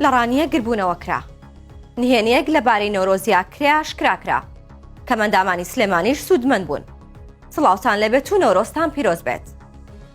لە ڕانیە گربوونەوە کرا نهێنیەک لە بارەی نۆرۆزیا کرێ ئاشکرا کرا کە مەندامانی سلێمانیش سوودمەند بوون سڵاوتان لەبێت و نۆرۆستان پیرۆز بێت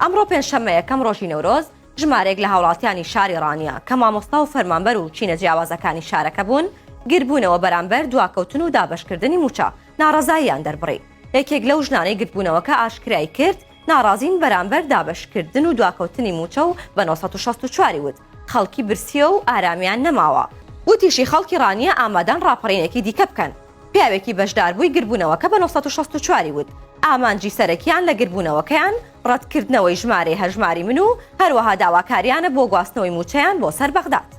ئەمڕۆ پێنجشەممە یەکەم ڕۆژی نەورۆز ژمارێک لە هاوڵاتیانی شاری ڕانیە کە مامۆستا و فەرمانبەر و چینە جیاوازەکانی شارەکە بوون گربوونەوە بەرامبەر دواکەوتن و دابەشکردنی موچە ناڕەزاییان دەربڕی. یەکێک لەو ژنانەی گردبوونەوەکە ئاشکرای کرد، ناڕازین بەرامبەر دابەشکردن و دواکەوتنی مووچە و بە نۆ سەد و شەست و چوار ی وت، خەڵکی برسییە و ئارامیان نەماوە. وتیشی، خەڵکی ڕانیە ئامادەن ڕاپەڕینێکی دیکە بکەن. پیاوێکی بەشداربووی گردبوونەوەکە بە نۆ سەد و شەست و چوار ی وت، ئامانجی سەرەکییان لە گردبوونەوەکەیان ڕەتکردنەوەی ژمارەی هەژماری من و هەروەها داواکارییانە بۆ گواستنەوەی مووچەیان بۆ سەر بەغداد.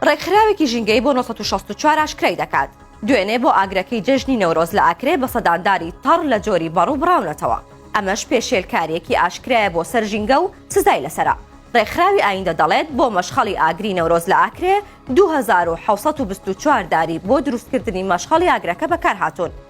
ڕێکخراوێکی ژینگەی بۆ 1964 ئاشکرای دەکات دوێنێ بۆ ئاگرەکەی جەژنی نەورۆز لە ئاکرێ بە سەدانداری تەڕ لە جۆری بەڕوو بڕاونەتەوە ئەمەش پێشێلکاریەکی ئاشکرایە بۆ سەر ژینگە و سزای لەسرە ڕێکخراوی ئایندە دەڵێت بۆ مەشخەڵی ئاگری نەورۆز لە ئاکرێ 2624 داری بۆ دروستکردنی مەشخەڵی ئاگرەکە بەکارهاتون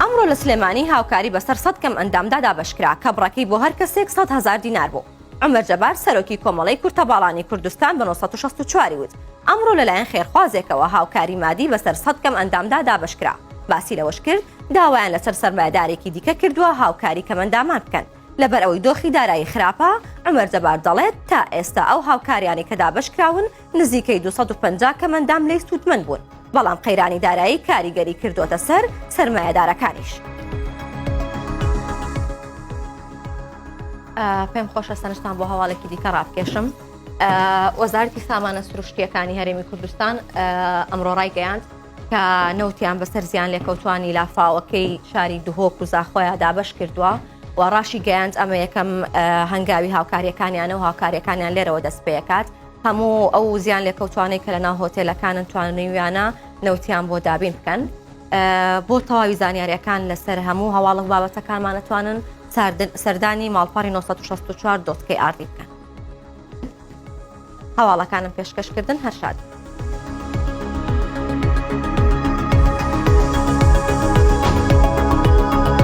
ئەمڕۆ لە سلێمانی هاوکاری بەسەر سەد کەم ئەندامدا دابەشکرا کە بڕەکەی بۆ هەر کەسێک سەد هەزار دینار بوو. عومەر جەبار سەرۆکی کۆمەڵەی کورتەباڵانی کوردستان بە نۆ سەد و شەست و چوار ی وت، ئەمڕۆ لەلایەن خێرخوازێکەوە هاوکاری مادی بەسەر سەد کەم ئەندامدا دابەشکرا. باسی لەوەشکرد، داوایان لەسەر سەرمایەدارێکی دیکە کردووە هاوکاری کەمەندامان بکەن، لەبەرئەوەی دۆخی دارایی خراپە، عومەر جەبار دەڵێت، تا ئێستا ئەو هاوکاریانەی کە دابەشکراون، نزیکەی دوو سەد و پەنجا کەمەندام لێی سوودمەند بوون، بەڵام قەیرانی دارایی کاریگەری کردووەتە سەر سەرمایەدارەکانیش. پێم خۆشە سەرنجتان بۆ هەواڵێکی دیکە ڕابکێشم. وەزارەتی سامانە سروشتیەکانی هەرێمی کوردستان ئەمڕۆ ڕایگەیاند کە نەوتیان بەسەر زیان لێکەوتانی لافاوەکەی شاری دهۆک و زاخۆیان دابش کردووە و ڕاشی گەیاند ئەمە یەکەم هەنگاوی هاوکاریەکانیانە و هاوکاریەکانیان لێرەوە دەست پێکات هەموو ئەو زیانلێکەوتوانەی کە لەناو هۆتێلەکانن توانیویانە نەوتیان بۆ دابین بکەن بۆ تەواوی زانیاریەکان لەسەر هەموو هەواڵک بابەتەکانمان نتوانن سەردانی ماڵپەڕی 1964 دۆتکەی ئاردی بکەن هەواڵەکانم پێشکەشکردن هەرشاد.